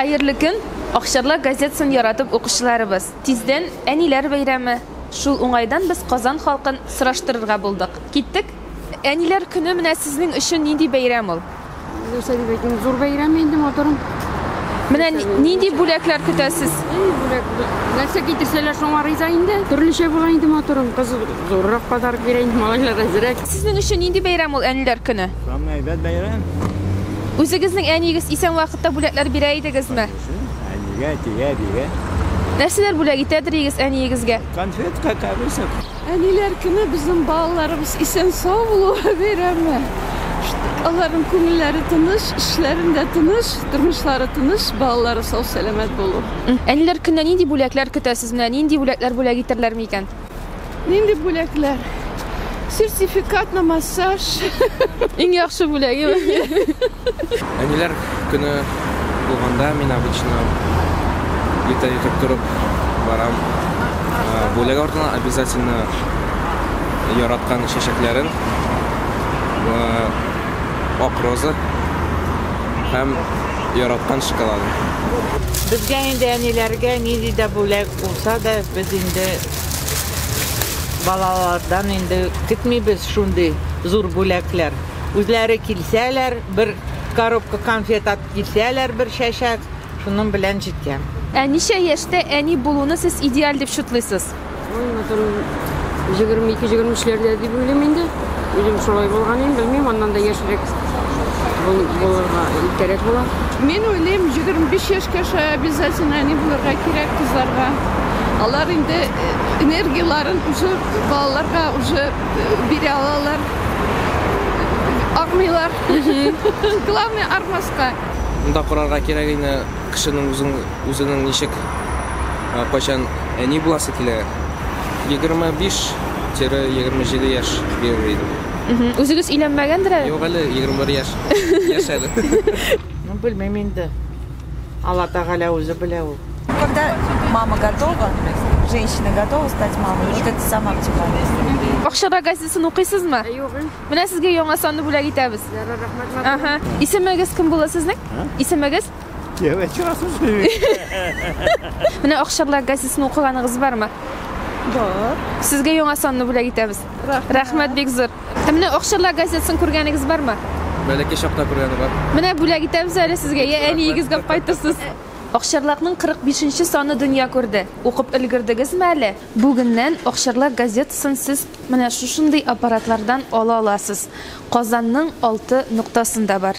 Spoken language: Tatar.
Хәерле көн, Акчарлак газетасын яратып укучыларыбыз. Тиздән Әниләр бәйрәме. Шул уңайдан без Казан халкын сораштырырга булдык. Киттек! Әниләр көне менә сезнең өчен нинди бәйрәм ул? Нәрсә дип әйтим, зур бәйрәм инде матурым. Менә нинди бүләкләр көтәсез? Бүләк, нәрсә китерсәләр, шуңа риза инде. Төрлечә була инде матурым. Кыз зуррак подарок бирә инде, малайлар әзрәк. Сезнең өчен нинди бәйрәм ул Әниләр көне? Самый әйбәт бәйрәм. Үзегезнең әниегез исән вакытта бүләкләр бирә идегезме? Әнигә, әтигә, әбигә. Нәрсәләр бүләк итәдер идегез әниегезгә? Конфет, какавыса. Әниләр көне безнең балаларыбыз исән сау булуы бәйрәме. Аларның күңелләре тыныч, эшләрендә тыныч, тормышлары тыныч, балалары сау-сәламәт булу. Әниләр көненә нинди бүләкләр көтәсез? Менә нинди бүләкләр бүләк итәрләр микән? Нинди бүләкләр? Сертификат на массаж. Иң яхшы бүләге. Әниләр көне булганда мин обычно иртә ятып торып барам. Бүләк артына обязательно яраткан чәчәкләрен ак роза һәм яраткан шоколадын. Безгә инде әниләргә нинди дә бүләк Булса да, без инде балалардан инде көтмибез шундый зур бүләкләр. Үзләре килсәләр, бер коробка конфет алып килсәләр, бер чәчәк, шуның белән җитә. Ә ничә яшьтә әни булуны сез идеаль дип шутлыйсыз? Ой, матурым, 22-23 ләрдә дип уйлыйм инде. Үзем шулай булганым, белмим, аннан да яшерек булырга кирәк була. Мин уйлыйм, 25 яшькә шулай обязательно әни булырга кирәк кызларга. Алар инде э, энергияләрен уже балаларга уже э, бирә алалар. Армыйлар. Главное армаска. Монда корарга кирәк ине. Кешенең үзен, үзенең ничек, кайчан әни буласы килә. Егерме биш тире егерме җиде яшь бирер идем. Үзегез өйләнмәгәндер әле? Юк әле, егерме бер яшь. Яшь әле. Ну, белмим инде. Алла Тәгалә үзе белә ул. Когда мама готова, женщина готова стать мамой, вот это самое оптимальное. Бакчада газетасын укыйсызмы? Юк. Менә сезгә яңа санны бүләк итәбез. Ярар, рәхмәт. Ага. Исемегез кем була сезнең? Исемегез? Менә Акчарлак газетасын укыганыгыз бармы? Бар. Сезгә яңа санны бүләк итәбез. Рәхмәт. Рәхмәт бик зур. Ә менә Акчарлак газетасын күргәнегез бармы? Бәләкәй чакта күргәне бар. Менә бүләк итәбез әле сезгә. Я әниегезгә алып кайтырсыз. Акчарлакның 45-нче саны дөнья күрде. Укып өлгердегезме әле? Бүгеннән Акчарлак газетасын сез менә шушындый аппаратлардан ала аласыз. Казанның алты ноктасында бар.